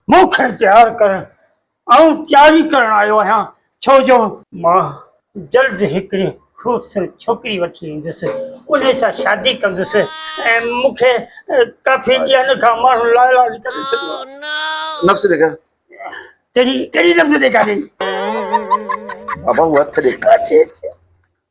مون کي تيار ڪر آئون تياري ڪرڻ آيو آهيان ڇو جو. مان جلد هڪڙي خوبصورت ڇوڪري وٺي ايندس انهي سان شادي ڪندس ۽ مون کي ڪافي ڏينهن کان ماڻهن لا علاج ڪري ڇڏيو آهي. نفس ڏيکار. ڪهڙي ڪهڙي نفس ڏيکارين. بابا هو هٿ ڏيکار.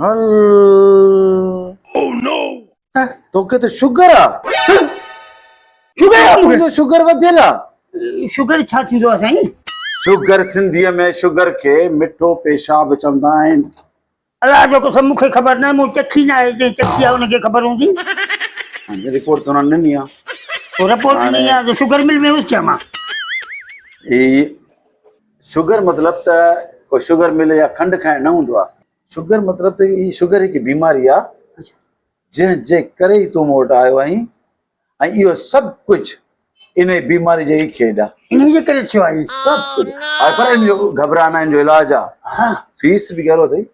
هل توکي ته شگر آ شگر آ مون کي شگر وڌيل آ شگر ڇا ٿيندو آ سائين شگر سنڌي ۾ شگر کي مٺو پيشاب چوندا آهن الله جو قسم مون کي خبر ناهي مون چکي ناهي جنهن چکي آ ان کي خبر هوندي رپورٽ ته انهن ڏني آ رپورٽ ڏني آ ته شگر مل ۾ هيس ڇا مان اي شگر مطلب ته ڪو شگر مل يا کنڊ کائڻ نه هوندو آهي. شگر مطلب ته هي شگر هڪ بيماري آهي جنهن جي ڪري ئي تون مون وٽ آيو آهين ۽ اهو سڀ ڪجهه انهي بيماري جي ئي کيڏ آهي. انهي جي ڪري ٿيو آهي. سڀ ڪجهه هائپر ايم جو گهٻرا نه ان جو علاج آهي. فيس به ڳرو اٿئي.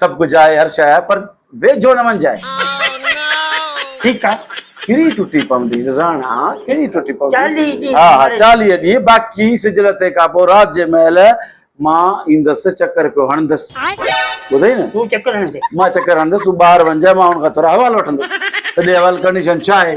سڀ ڪجهه آهي هر شيء آهي پر ويجهو نه وڃجانء. ٺيڪ آهي ڪهڙي ٽٽي پوندي راڻا ڪهڙي ٽٽي پوندي. چاليهه ڏينهن ها ها چاليهه ڏينهن باقي سج لٿي کان پوء رات جي مهل مان ايندس چڪر پيو هڻندس ٻڌئي نه. تون چڪر هڻندين. مان چڪر هڻندس تون ٻاهر وڃجانء مان ان کان ٿورا حوال وٺندس ته ڏي حوال ڪنڊيشن ڇا آهي.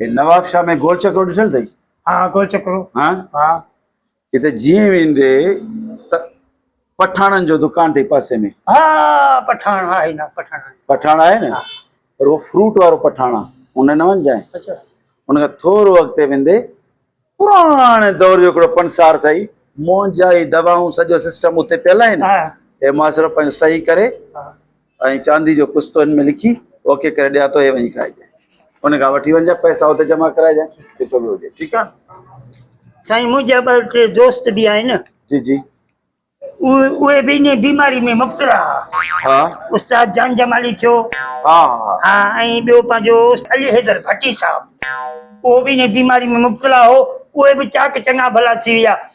هي نواب شاهه ۾ گول چڪرو ڏٺل اٿئي؟ ها گول چڪرو ها ها. هتي جيئن ويندي ته پٺاڻن جو دڪان اٿئي پاسي ۾. ها پٺاڻ ها هي نه پٺاڻ آهي. پٺاڻ آهي نه پر اهو فروٽ وارو پٺاڻ آ ان نه وڃجانء. اڇا. ان کان ٿورو اڳتي ويندي پراڻي دور جو هڪڙو پنسار اٿئي. مونجهائي دوائون سڄو سسٽم اتي پيل آهن. هي ماسرو پنهنجو صحيح ڪري. ها. ۽ چاندي جو قسطو هن ۾ لکي اوڪي ڪري ڏيان ٿو هي وڃي کائجانء ان کان وٺي وڃجانء پئسا اتي جمع ڪرائجانء جتو به هجي ٺيڪ آهي. سائين منهنجا ٻه ٽي دوست به آهن. جي جي. اهي به انهي بيماري ۾ مبتلا ها. ها. استاد جان جمالي ٿيو. ها ها. ها ۽ ٻيو پنهنجو علي حيدر ڀٽي صاحب اهو به انهي بيماري ۾ مبتلا هو اهي به چاڪ چڱا ڀلا ٿي ويا.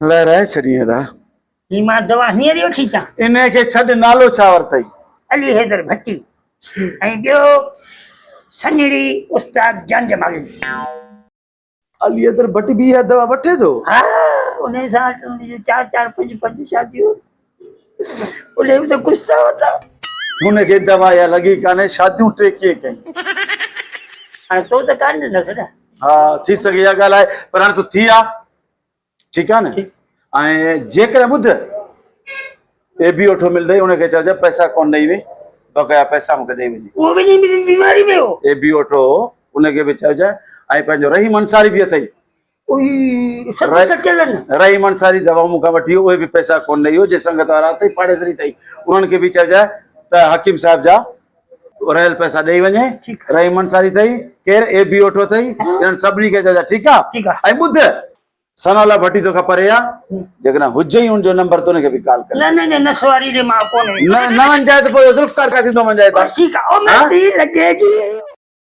لهرائي ڇڏين ادا. هي مان دوا هينئر ئي وٺي اچان. انهيء کي ڇڏ نالو ڇا ورتئي؟ علي حيدر ڀٽي ۽ ٻيو سڃڻي استاد جان جمالدين. علي حيدر ڀٽ به اها دوا وٺي ٿو؟ ها انهيء سان ان جون چار چار پنج پنج شاديون. انهن ته خوش ٿا وتا. هن کي دوا يا لڳي ڪانهي شاديون ٽي ڪيئن ڪيون. هاڻي تو ته ڪانه ڏنس نه. ها ٿي سگهي اها ڳالهه آهي پر هاڻي تو ٿي آ ٺيڪ آ نه ٺيڪ. ۽ جيڪڏهن ٻڌ اي بي اوٺو ملدئي ان کي چئجي پئسا ڪونه ڏئي وئي بقايا پئسا مون کي ڏئي وڃي. اهو به نيم جي بيماري ۾ هو. اي بي اوٺو هو ان کي به چئجي ۽ پنهنجو رحيم انصاري به اٿئي رحيم انصاري جا وهمون کان وٺي اهي به پئسا ڪونه ڏئي ويو جي سنگت وارا اٿئي پاڙيسري اٿئي انهن کي به چئجانء ته حڪيم صاحب جا رهيل پئسا ڏئي وڃي رحيم انصاري اٿئي ڪير اي بي اوٺو اٿئي انهن سڀني کي چئجانء ٺيڪ آ ۽ ٻڌ ثناء الله ڀٽي تو کان پري آ جيڪڏهن هجئي ان جو نمبر ته ان کي به ڪال ڪر نه نه نه سواري جي مان ڪونه نه نه ونجائي ته پوء ذوالفقار کان ٿيندو ونجائي ته ٺيڪ آ او مهدي لڳي جي